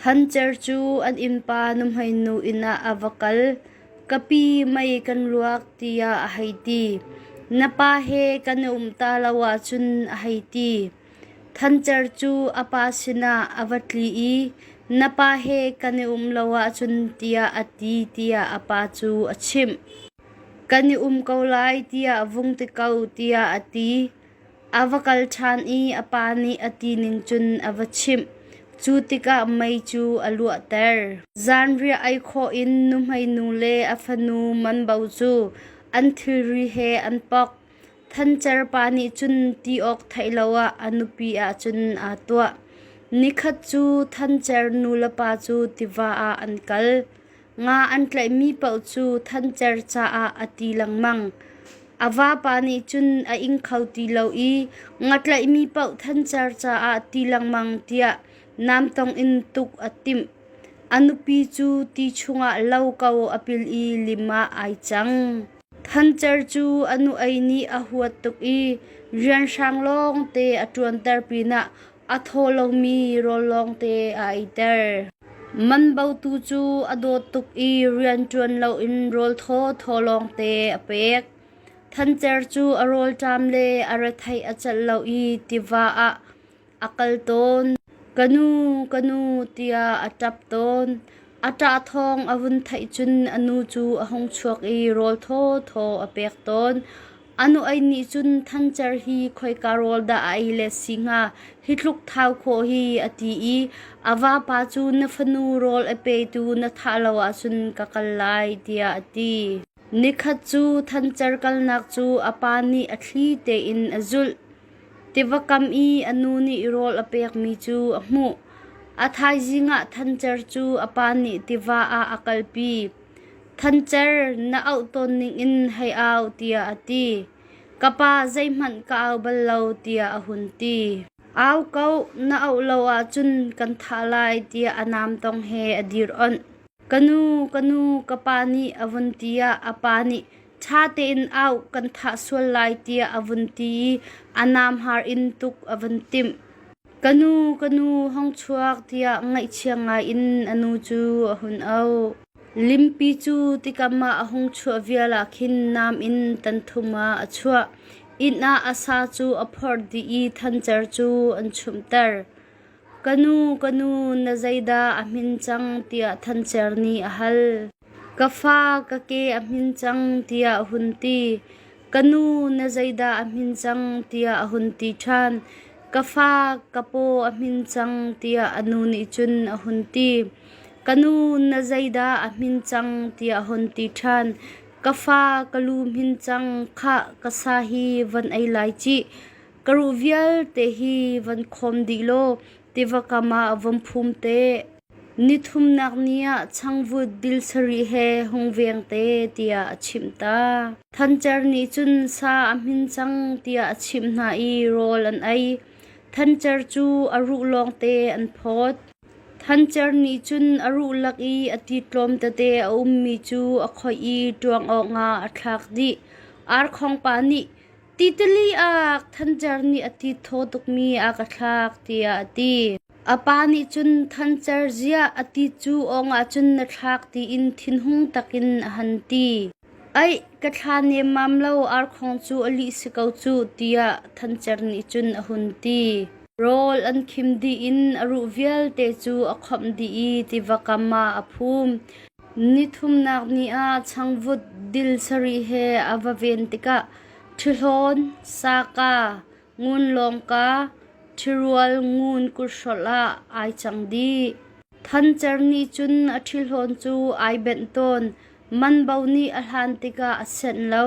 Thancer cu an innpa nuhmeinu inn ah a va kal. Ka pi mei kan luak tiah a hei ti. Na pa he kan i um ta lo ahcun a hei ti. Thancer cu a pa sinah a va tli i na pa he kan i um lo ahcun tiah a ti tiah a pa cu a chimh. Kan i um ko lai tiah a vung ti ko tiah a ti. A va kal ṭhan i a pa nih a ti ning cun a va chimh. Cu tikah mei cu a luahter. Zanriah ei khawh in nuhmeinu le a fanu manbo cu an thilri he an pok. Thancer pa nih cun ti awk theih lo ah a nupi ah cun aa tuah. Nikhat cu thancer nulepa cu tiva ah an kal. Nga an tlaihmi paoh cu thancer caah a ti lengmang. A vapa nih cun a ing kho ti lo i nga tlaihmi paoh thancer caah ti lengmang tiah namtong in tuk a timh. A nupi cu ti chungah lo ko a pil i lim ah ai cang. Thancer cu a nu-ei nih a huat tuk i rianhrang lawngte a ṭuanter pinah A thaw lomi rawl lawngte a eiter. Man botu cu a dawt tuk i rian ṭuan loin rawl thawthaw lawngte a pek. Thancer cu a rawlṭam le a retheih a celh lo i tiva ah a kal tawn. Ka nu, ka nu tiah a ṭap tawn. A ṭah thawng a vun theih cun a nu cu a hung chuak i rawl thawthaw a pek tawn. A nuei nih cun Thancer hi khoika rawl dah a ei let si hnga hi tluk thau khawh hi a ti i a vapa cu na fanu rawl a petu na thah lo ahcun ka kal lai tiah a ti. Nikhat cu Thancer kalnak cu a pa nih a thli tein a zulh. Tiva kam i a nu nih rawl a pekmi cu a hmuh. A thaizing ah Thancer cu a pa nih tiva ah a kalpi. Thancer na auh tawn ningin hei au tiah a ti. Ka pa zeihmanh ka au bal lo tiah a hun ti. Au ko, na auh lo ahcun kan thah lai tiah a naamtong he a dir onh. Ka nu, ka nu, ka pa nih a vun ti ah a pa nih ṭha tein au kan thah sual lai tiah a vun ti i a naamhar in tuk a vun timh. Ka nu ka nu hong chuak tiah ngaihchia ngaiin a nu cu a hun auh. Limpi cu tikam ah a hung chuah vial ah khin nam in tan thum ah a chuah. Inn ah a sa cu a phorh dih i thancer cu an chumhter. Ka nu ka nu na zeidah a hmin cang tiah thancer nih a hal. Ka fa ka ke a hmin cang tiah a hun ti. Ka nu na zeidah a hmin cang tiah a hun ti ṭhan. Ka fa ka paw a hmin cang tiah a nu nih cun a hun ti. Ka nu na zeidah a hmin cang tiah a hun ti ṭhan. Ka fa ka lu hmin cang khah ka sa hi van ei lai cih. Ka ruh vialte hi van khawm dih law tiva kam ah vom phum te. Nithumnak ni ah changvut bil sarih he hung veng te tiah a chimh ta. Thancer nih cun sa a hmin cang tiah a chimh hna i rawl an ei. Thancer cu a ruh lawngte an phawt. Thancer nih cun a ruh lak i a ti tlawm tete a ummi cu a khoih i ṭuang awkah a thlak dih. Arkhong pa nih, Titali ah Thancer nih a ti thaw tukmi a ka thlak tiah a ti. A pa nih cun Thancer ziah a ti cu awng ahcun na thlak tiin thinhung takin a han ti. Aih, ka thla nemmam lo arkhong cu a lih si ko cuh tiah Thancer nih cun a hun ti. Rawl an khim dih in a ruh vialte cu a khawmh dih i tiva kam ah a phum. Nithumnak ni ah changvut dil sarih he a va ven tikah ṭhihlawn, saka, ngun lawngka, ṭhirual ngun kurhrolh ah ai cang dih. Thancer nih cun a ṭhihlawn cu ai benh tawn; manbo nih a hlan tikah a senh lo.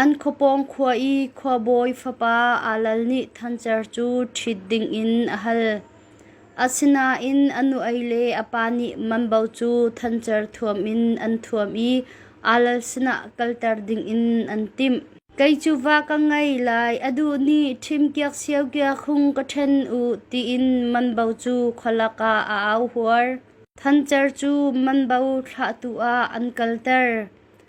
An khuapawng khua i khuabawi fapa Alal nih thancer cu ṭhit dingin a hal. Asinain a nu-ei le a pa nih mambo cu thancer thuam in an thuam i Alal sinah kalter dingin an timh. Kei cu va ka ngei lai, a duh nih ṭhim kiak sio kiak hung ka ṭhen u, tiin mambo cu khualak ah a au huar. Thancer cu mambo thlahtu ah an kalter.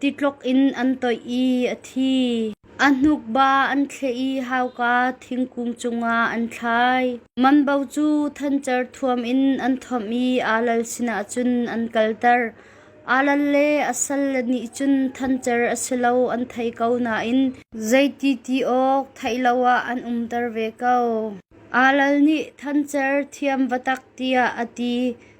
Titlok in an toih i a thi. A hnukba an thleh i hauka thingkung cungah an thlai. Manbo cu thancer thuam in an thawmh i alal sinah cun an kalter. Alal le a salle nih cun thancer a si lo an theih ko nain zeiti ti awk theih lo ah an umter ve ko. Alal nih thancer thiam va tak tiah a ti.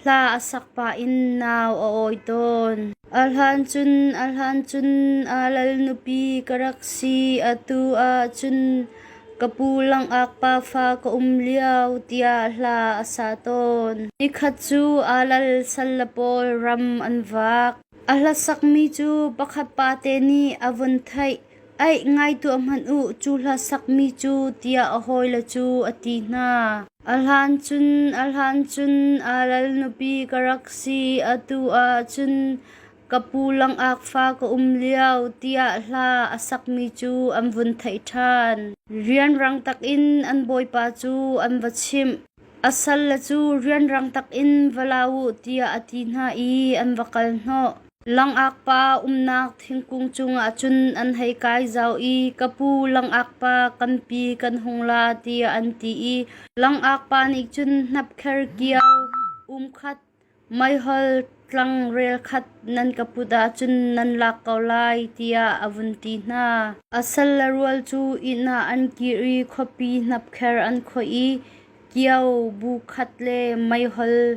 Hla a sak pah in nau a awi tawn. A hlan cun a hlan cun aa lal nupi ka rak si. Atu ah cun ka pu langak pafa ka um lio tiah hla a sa tawn. Nikhat cu aa lal salle pawl ram an vak. A hla sakmi cu pakhat pate nih a vun theih. Aih ngai tuah hmanh u, cu hla sakmi cu, tiah a hawile cu a ti hna. A hlan cun, a hlan cun aa lal nupi ka rak si, atu ah cun ka pu langak fa ka um lio, tiah hla a sakmi cu an vun theih ṭhan. Rianrang takin an bawipa cu an va chimh. A salle cu rianrang takin va la u, tiah a ti hna i an va kal hnawh. Langak pa umnak thingkung cungah cun an hei kai zau i ka pu langak pa kampi kan hung la tiah an ti i langak pa nih cun hnapkher kiau, umkhat, meihol, tlangrel khat nan ka put ahcun nan lak ko lai tiah a vun ti hna. A sal le rual cu inn ah an kir i khuapi hnapkher an khoih i kiau bu khat le meihol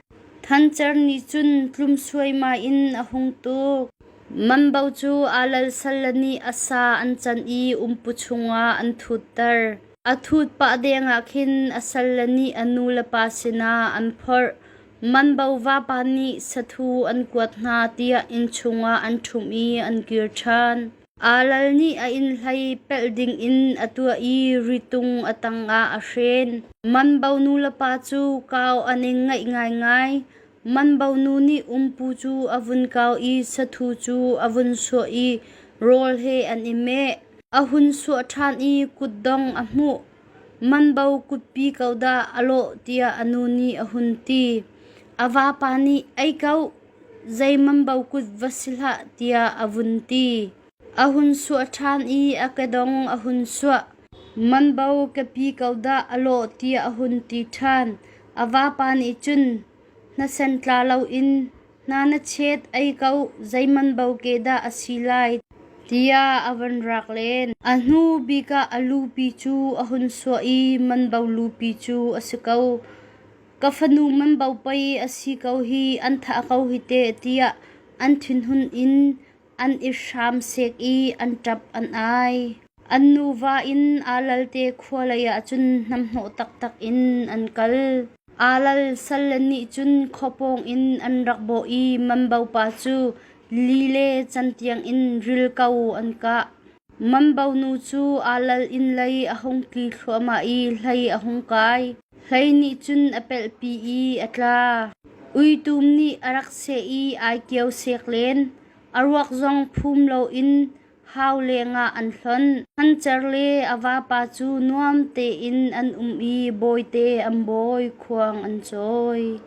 Thancer nih cun tlum suaimai in a hung tuk. Mambo cu aa lal salle nih a sa an canh i umpu chungah an thutter. A thut pah dengah khin a salle nih a nu le pa sinah an phorh. Mambo vapa nih sathu an kuat hna tiah inn chungah an ṭhumh i an kir ṭhan. Aa lal nih a inn hlei pelh dingin a tuah i ritung a tangah a hren. Manbo nulepa cu kau an i ngaih ngaingai. Manbo nu nih umpu cu a vun kau i sathu cu a vun suah i rawl he an i meh. A hun suah ṭhan i kutdong a hmuh. Manbo kutpi ko dah a lawh tiah a nu nih a hun ti. A vapa nih, Ei ko, Zeimam bo kut va si hlah tiah a vun ti. A hun suah ṭhan i a kedong a hun suah. Man bo ka pi ko dah a lawh tiah a hun ti ṭhan. A vapa nih cun, Na sen tla loin hna na chet ei ko, zeiman bo ke dah a si lai, tiah a van rak len. A hnu bik ah a lupi cu a hun suah i man bo lupi cu a si ko. ka fanu manbo pei a si ko hi an thah ko hi teh tiah an thinhun in an i hram sek i an ṭap an ai. An nuva in aa lalte khua leiah cun hnamhnawh taktak in an kal. Aa lal salle nih cun khua pawngin an rak bawh i manbo pa cu li le can tiangin ril ko an kah. Mambonu cu aa lal in lei a hung tli thluahmah i hlei a hung kai. Hlei nih cun a pelhpi i a tla. Uitum nih a rak seh i ai kio sek len. A ruak zong phum loin hau lengah an hlonh. An cer le a vapa cu nuam tein an um i bawite an bawi, khuang an cawi.